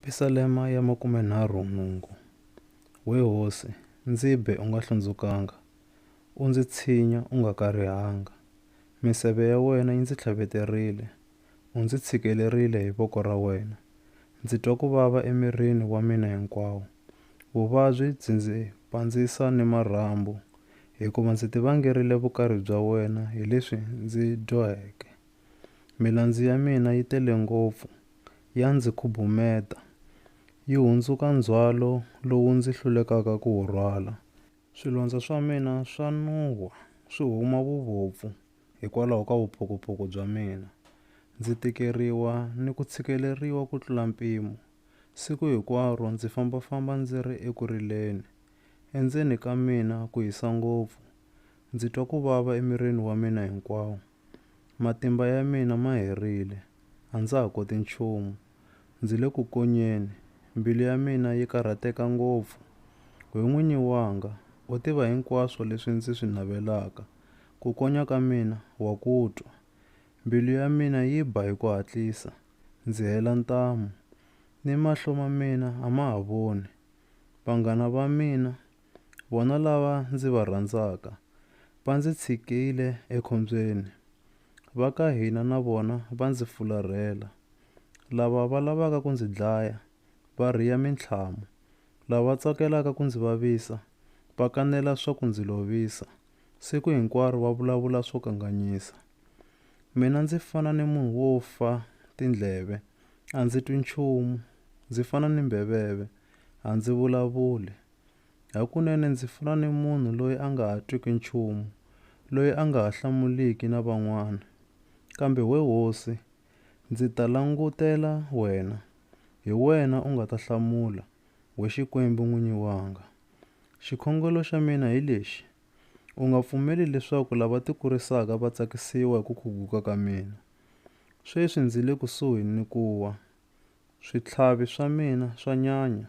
Pisalema ya makumenharhu nhungu. We hosi, ndzi be u nga hlundzukanga, u ndzi tshinya u nga karihanga. Miseve ya wena yi ndzi tlhaveterile, u ndzi tshikelerile hi voko ra wena. Ndzi twa ku vava emirini wa mina hinkwawo, vuvabyi byi ndzi pandzisa ni marhambu, hikuva ndzi tivangerile vukari bya wena hi leswi ndzi dyoheke. Milandzu ya mina yi tele ngopfu, ya ndzi khubumeta, yi hundzuka ndzhwalo lowu ndzi hlulekaka ku wu rhwala. Swilondza swa mina swa nuhwa swi huma vuvopfu hikwalaho ka vuphokopoko bya mina. Ndzi tikeriwa ni ku tshikeleriwa ku tlula mpimo, siku hinkwaro ndzi fambafamba ndzi ri eku rileni. Endzeni ka mina ku hisa ngopfu, ndzi twa ku vava emirini wa mina hinkwawo. Matimba ya mina ma herile, a ndza ha koti nchumu. Ndzi le ku konyeni, mbilu ya mina yi karhateka ngopfu. Why N'winyi wanga, u tiva hinkwaswo leswi ndzi swi navelaka. Ku konya ka mina wa ku twa. Mbilu ya mina yi ba hi ku hatlisa, ndzi hela ntamu, ni mahlo ma mina a ma ha voni. Vanghana va mina Vona lava ndzi va rhandzaka va ndzi tshikile ekhombyeni, va ka hina na vona va ndzi fularhela. Lava va lavaka ku ndzi dlaya va rhiya mintlhamu, lava tsakelaka ku ndzi vavisa va kanela swa ku ndzi lovisa, siku hinkwaro va vulavula swo kanganyisa. Mina ndzi fana ni munhu wo fa tindleve, a ndzi twi nchumu, ndzi fana ni mbheveve, a ndzi vulavuli. Hakunene ndzi fana ni munhu loyi a nga ha twiki nchumu, loyi a nga ha hlamuliki na van'wana. Kambe we hosi, ndzi ta langutela wena, hi wena u nga ta hlamula, we Xikwembu n'winyi wanga. Xikhongelo xa mina hi lexi, U nga pfumeli leswaku lava tikurisaka va tsakisiwa hi ku khuguka ka mina. Sweswi ndzi le kusuhi ni ku wa, switlhavi swa mina swa nyanya.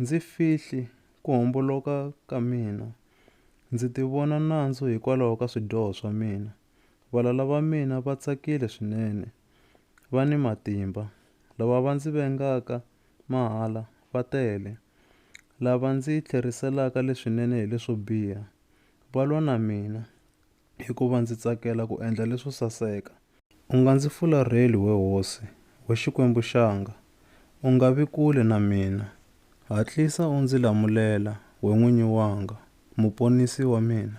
Ndzi fihli ku homboloka ka mina. Ndzi tivona nandzu hikwalaho ka swidyoho swa mina. Valala va mina va tsakile swinene. Va ni matimba. Lava va ndzi vengaka mahala va tele. Lava ndzi tlheriselaka leswinene hi leswo biha, va lwa na mina. hikuva ndzi tsakela ku endla leswo saseka. U nga ndzi fularheli, we hosi, we Xikwembu xanga, u nga vi kule na mina. Hatlisa u ndzi lamulela, we N'winyi wanga, Muponisi wa mina.